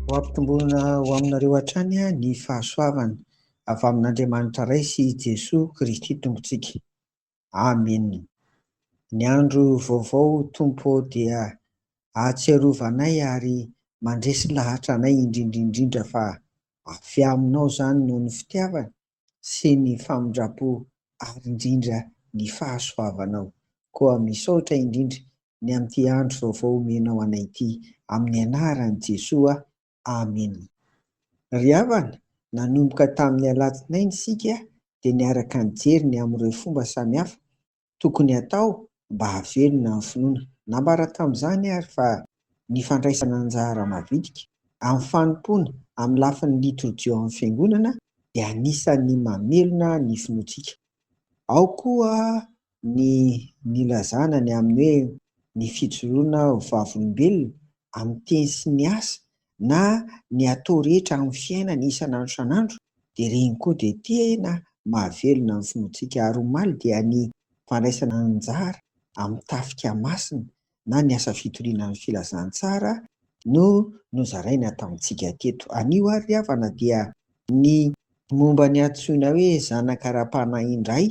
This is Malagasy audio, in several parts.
Ho ampitomboina ho aminareo hatrany ny fahasoavana avy amin'Andriamanitra Ray sy i Jesoa Kristy Tompontsika. Amena. Ny andro vaovao Tompo ô dia ahatsiarova anay ary mandresy lahatra anay indrindra indrindra fa avy Aminao izany noho ny fitiavana sy ny famindrampo ary indrindra ny fahasoavanao. Koa misaotra indrindra ny amin'ity andro vaovao omenao anay ity, amin'ny anaran'i Jesoa, Amena. Ry havana, nanomboka tamin'ny alatsinainy isika dia niaraka nijery ny amin'ireo fomba samihafa tokony hatao mba hahavelona ny finoana. Nambara tamin'izany àry fa ny fandraisana anjara mavitrika amin'ny fanompoana amin'ny lafiny litorjia ao amin'ny Fiangonana dia anisan'ny mamelona ny finoantsika. Ao koa ny nilazana ny amin'ny hoe ny fijoroana ho vavolombelona amin'ny teny sy ny asa na ny atao rehetra amin'ny fiainana isan'andro isan'andro dia ireny koa dia tena mahavelona ny finoantsika ary omaly dia ny fandraisana anjara amin'ny tafika masina na ny asa fitoriana ny filazantsara no nozaraina tamintsika teto anio ary ry havana dia ny momba ny antsoina hoe zanaka ara-panahy indray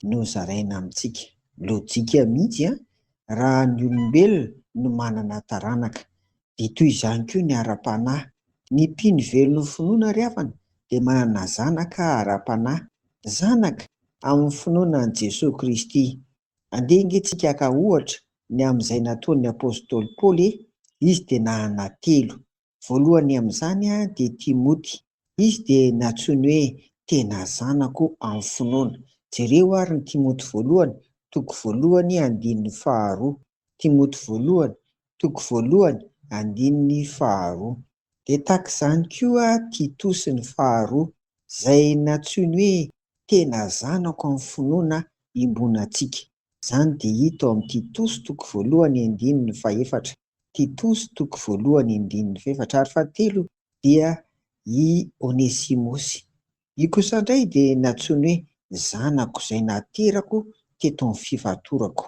no zaraina amintsika. Lojika mihitsy an! Raha ny olombelona no manana taranaka dia toy izany koa ny ara-panahy. Ny mpino velon'ny finoana ry havana dia manana zanaka ara-panahy, zanaka amin'ny finoana an'i Jesoa Kristy. Andeha ange tsika haka ohatra ny amin'izay nataon'ny apostoly Paoly e! Izy dia nanana telo. Voalohany amin'izany dia Timoty. Izy dia nantsoiny hoe tena zanako amin'ny finoana. Jereo àry ny Timoty Voalohany, toko voalohany, andininy faharoa. Timoty Voalohany, toko voalohany, andininy faharoa. Dia tahaka izany koa Titosy ny faharoa, izay nantsoiny hoe tena zanako amin'ny finoana iombonantsika. Izany dia hita ao amin'ny Titosy toko voalohany, andininy fahefatra. Titosy toko voalohany indininy fahefatra ary fahatelo dia i Onesimosy. Io kosa indray dia nantsoiny hoe zanako izay naterako teto amin'ny fifatorako.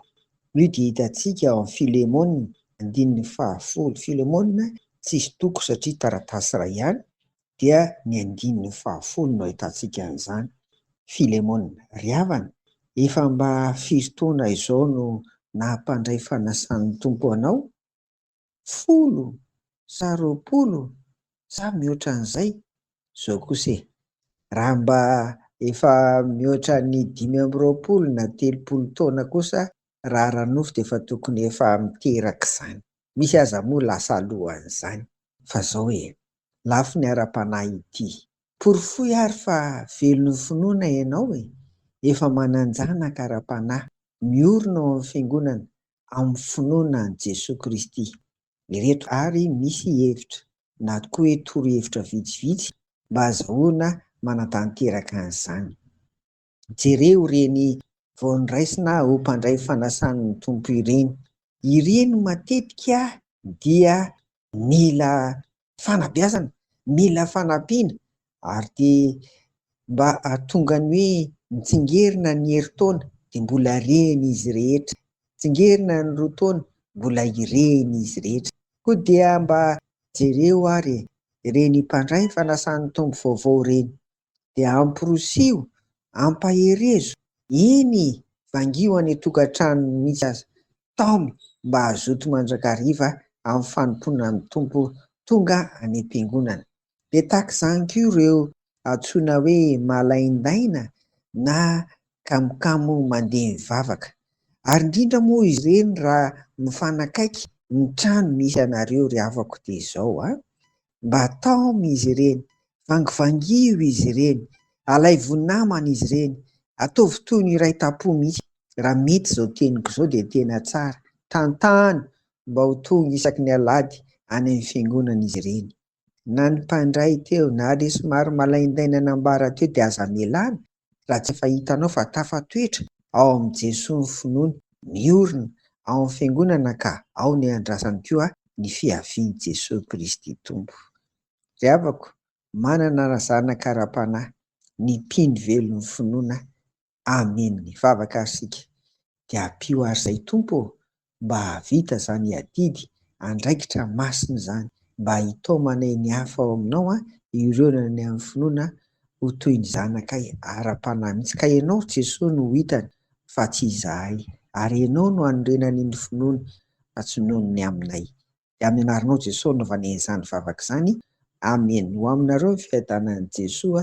Io dia hitantsika ao amin'ny Filemona, andininy fahafolo. Filemona tsisy toko satria taratasy iray ihany dia ny andininy fahafolo no ahitantsika an'izany, Filemona ry havana, efa mba firy taona izao no nampandray fanasan'ny Tompo anao? Folo sa roapolo sa mihoatra an'izay? Izao kosa e! Raha mba efa mihoatra ny dimy amby roapolo na telopolo taona kosa raha ara-nofo dia efa tokony efa miteraka izany. Misy aza moa lasa alohan'izany. Fa izao e! lafiny ara-panahy ity. Porofoy ary fa velon'ny finoana ianao e! Efa manan-janaka ara-panahy miorina ao amin'ny Fiangonana amin'ny finoana an'i Jesoa Kristy. Ireto ary misy hevitra na koa hoe torohevitra vitsivitsy mba azahoana manatanteraka an'izany. Jereo ireny vao noraisina ho mpandray fanasan'ny Tompo ireny. Ireny matetika dia mila fanabeazana, mila fanampiana ary dia mba hahatonga ny hoe mitsingerina ny herintaona dia mbola reny izy rehetra, mitsingerina ny roa taona mbola ireny izy rehetra. Koa dia mba jereo ary e! Ireny mpandray fanasan'ny Tompo vaovao ireny, dia amporisiho, ampaherezo, eny vangio any an-tokantranony mihitsy aza, taomy mba hazoto mandrakariva amin'ny fanompoana ny Tompo tonga any am-piangonana. Dia tahaka izany koa ireo antsoina hoe malaindaina na kamokamo mandeha mivavaka. Ary indrindra moa izy ireny raha mifanakaiky ny trano misy anareo ry havako dia izao an! Mba taomy izy ireny, vangivangio izy ireny, alaivo namana izy ireny, ataovy toy ny iray tam-po mihitsy. Raha mety izao teniko izao dia tena tsara. Tantano mba ho tonga isaky ny alahady any amin'ny fiangonana izy ireny. Na ny mpandray teo na ilay somary malaindaina nambara teo dia aza amelana Raha tsy efa hitanao fa tafatoetra ao amin'i Jesoa ny finoany, miorina ao amin'ny Fiangonana ka ao ny andrasany koa ny fiavian'i Jesoa Kristy Tompo. Ry havako, manana razanaka ara-panahy, ny mpino velon'ny finoana. Amen. Mivavaka ary isika. dia ampio ary zay Tompo ô mba hahavita zany adidy andraikitra masina zany mba hitaomana ny hafa ao aminao an ireo ny any amin'ny finoana ho toy ny zanakay ara panahy mihitsy ka ianao Jesoa no hitany fa tsy izahay ary ianao no hanorenany ny finoany fa tsy noho ny aminay dia amin'ny anaranao Jesoa anaovana izany vavaka izany Amen ho aminareo ny fiadanan'i Jesoa